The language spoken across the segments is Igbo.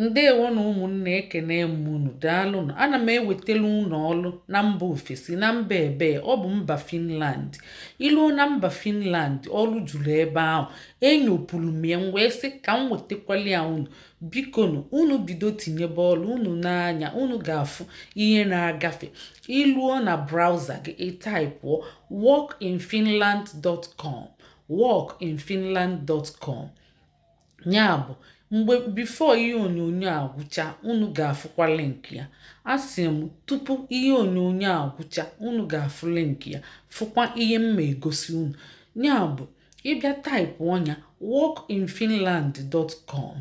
Ndewo na ụmụnne ekene m unu daalụnụ ana m ewetara unu ọlụ na mba ofesi na mba ebee ọ bụ mba Finland i luo na mba Finland ọlụ juru ebe ahụ enyopụrụ m ya m wee sị ka m wetakwala ya unu bikonu unu bido tinyebe ọlụ unu n'anya unu ga-afụ ihe na-agafe i luo na browser gị ị taịpụọ workinfinland.com workinfinland.com ya bụ mgbe before ihe onyonyo a gwụcha unu ga-afụkwa link ya asị m tupu ihe onyonyo a gwụcha unu ga-afụ link ya fụkwa ihe m ma egosi unu ya bụ ị bịa taịpụọ nya workinfinland.com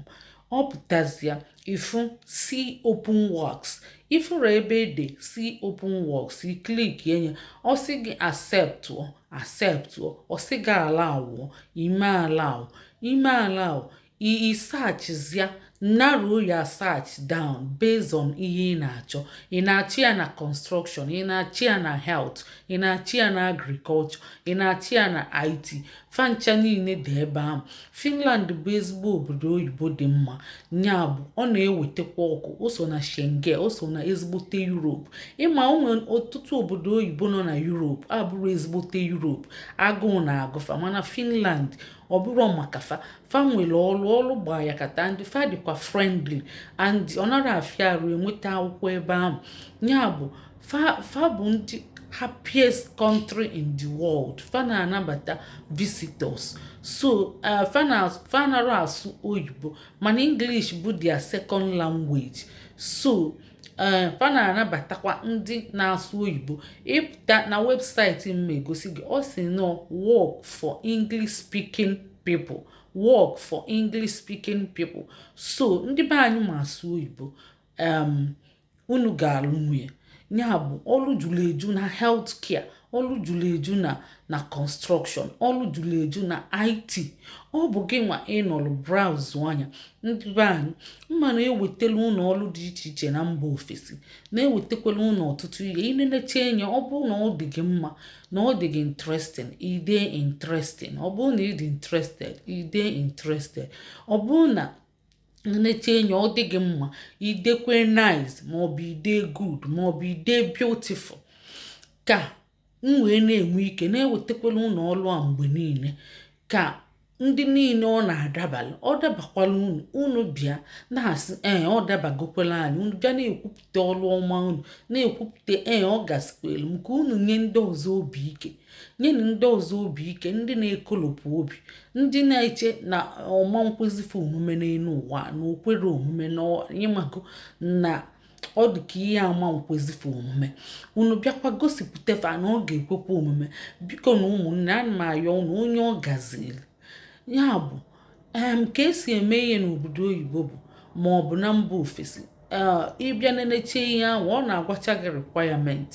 ọ pụtazịa ị fụ see open works ị fụrụ ebe e de see open works i klikie nye ọ sị gị acceptụọ accept ọ sị gị allowụọ i mee allow i mee allow i searchzia narrow your search down based on ihe ị na-achọ ị na-achọ ya na construction ị na-achọ ya na health ị na-achọ ya na agriculture ị na-achọ ya na IT fancha niile dị ebe ahụ Finland bụ ezigbo obodo oyibo dị mma nya bụ ọ na-ewetakwa ọkụ o so na Schengen o so na ezigbote Europe ị ma o nwe ọtụtụ obodo oyibo nọ na Europe abụrọ ezigbote Europe agụụ na-agụ fa mana Finland ọ bụrụ maka fa fa nwere ọlụ ọlụ gba ya kata ndị fa dịkwa friendly and ọ narọ afịa arụ enweta akwụkwọ ebe ahụ ya bụ fa bụ ndị happiest country in the world fa na-anabata visitors so uh, fa anarọ asụ oyibo mana english bụ their second language so Eh, fa na-anabatakwa ndị na-asụ oyibo ị pụta na website m ma egosi gị ọ sị nọ work for English speaking people work for English speaking people so ndị be anyị ma asụ oyibo unu ga-alụnwu nye ya bụ ọlụ juru eju na health care ọlụ juru eju na construction ọlụ juru eju na it ọ bụ gị nwa ị nọlụ braụzụọ nya ndị be anyị m ma na-ewetala unu ọlụ dị iche iche na mba ofesi na-ewetakwala unu ọtụtụ ihe i nenechee nye ọ bụrụ na ọ dị gị mma na ọ dị gị interesting i dee interesting ọ bụrụ na ị dị interested i dee interested ọ bụrụ na nechee nye ọ dị gị mma i dekwee nice maọbụ i dee good maọbụ i dee beautiful ka m wee na-enwe ike na-ewetakwala unu ọlụ a mgbe niile ka ndị niile ọ na-adabala ọ dabakwala unu unu bịa na-asị ee ọ dabagokwala anyị unu bịa na-ekwupụta ọlụ ọma unu na-ekwupụta ee ọ gasikwelu m ka unu nye ndị ọzọ obi ike nyenụ ndị ọzọ obi ike ndị na-ekolopụ obi ndị na-eche na ọ ma nkwezi fa omume n'elu ụwa na o kwere omume na ị mago na ọ dị ka ihe ama nkwezi fa omume unu bịakwa gosipụta fa na ọ ga-ekwekwa omume bikonụ ụmụnne ana m ayọ unu onye ọ gaziri Ya bụ, um ka e si eme ihe n'obodo oyibo bụ ma ọ bụ na mba ofesi um ị bịa nenecha ihe ahụ ọ na-agwacha gị requirement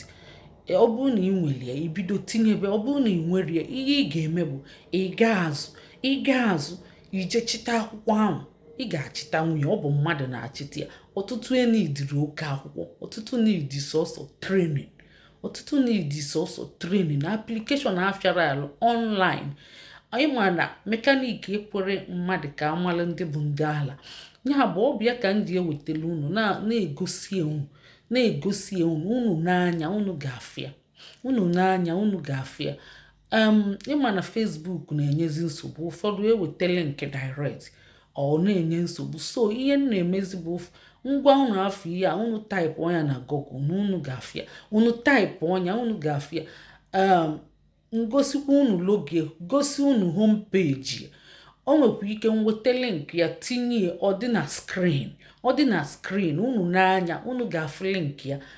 ọ bụrụ na ị nwere ya i bido tinyebe ọ bụrụ na ị nwerọ ya ihe ị ga-eme bụ ị gaa azụ ị gaa azụ i jee chịta akwụkwọ ahụ ị ga-achịtanwu nya ọ bụ mmadụ na-achịta ya ọtụtụ eneedirọ oke akwụkwọ ọtụtụ needi sọsọ training ọtụtụ needi sọsọ training na application afịarọ alụ online ị ma na mekanik ekwerọ mmadụ ka a mala ndị bụ ndị ala ya bụ ọ bụ ya ka m ji ewetele unu na-egosi unu na-egosi unu unu n'anya unu ga-afụ ya unu n'anya unu ga-afụ ya um ị ma na Facebook na-enyezi nsogbu ụfọdụ e wete link direct ọ na-enye nsogbu so ihe m na-emezi bụ ngwa unu afụ ihe a unu taịpụọ nya na Google na unu ga-afụ ya unu taịpụọ nya unu ga-afụ ya um m gosikwa unu logo gosi unu home page o nwekwa ike m wete link ya tinye ọ dị na screen ọ dị na screen unu n'anya unu ga-afụ link ya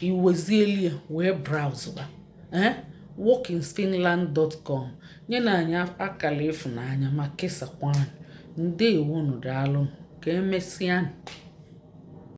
i wezieli ya wee braụzụba ee workinfinland.com nyenụ anyị akala ịfụnanya ma kesakwa anyị ndeewonụ daalụ ka emesịa